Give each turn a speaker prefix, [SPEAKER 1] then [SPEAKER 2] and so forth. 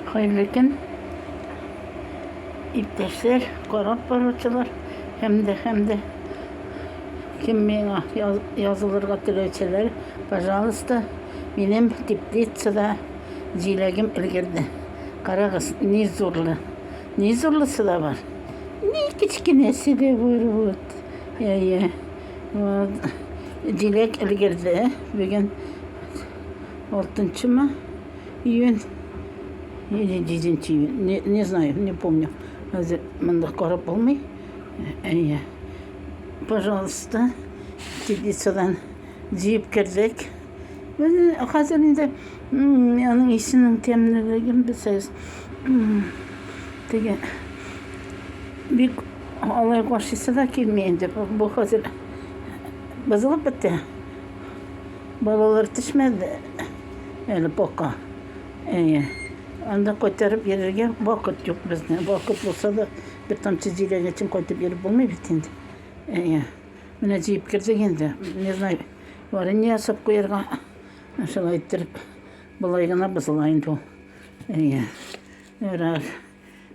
[SPEAKER 1] Хәерле көн, иптәшләр, карап баручылар һәм дә һәм дә кем миңа язылырга теләүчеләр, пожалуйста, минем теплицада җиләгем өлгерде. Карагыз, ни зурлы. Ни зурлысы да бар. Ни кечкенәсе дә бар вот. Я, я. Вот. Җиләк өлгерде. Бүген 6 ма? Июнь или 10 июнь. Не, не знаю, не помню. Хәзер монда карап булмый. Әйе. Пожалуйста, теплицадан җыеп кердек. Хәзер инде аның исенең тәмлелеген белсәгез. Теге бик алай каршысы да килми инде. Бу хәзер бозылып бетте. Балалар төшмәде. Әле пока. Әйе. Анда кайтарып йөрергә вакыт юк безне. Вакыт булса да, бер тамчы җиләге өчен кайтып йөреп булмый бит инде. Әйе. Менә җыеп кердек инде. Не знаю, варенье ясап куярга. Шулай иттереп, болай гына бозыла инде ул. Әйе. Ярар.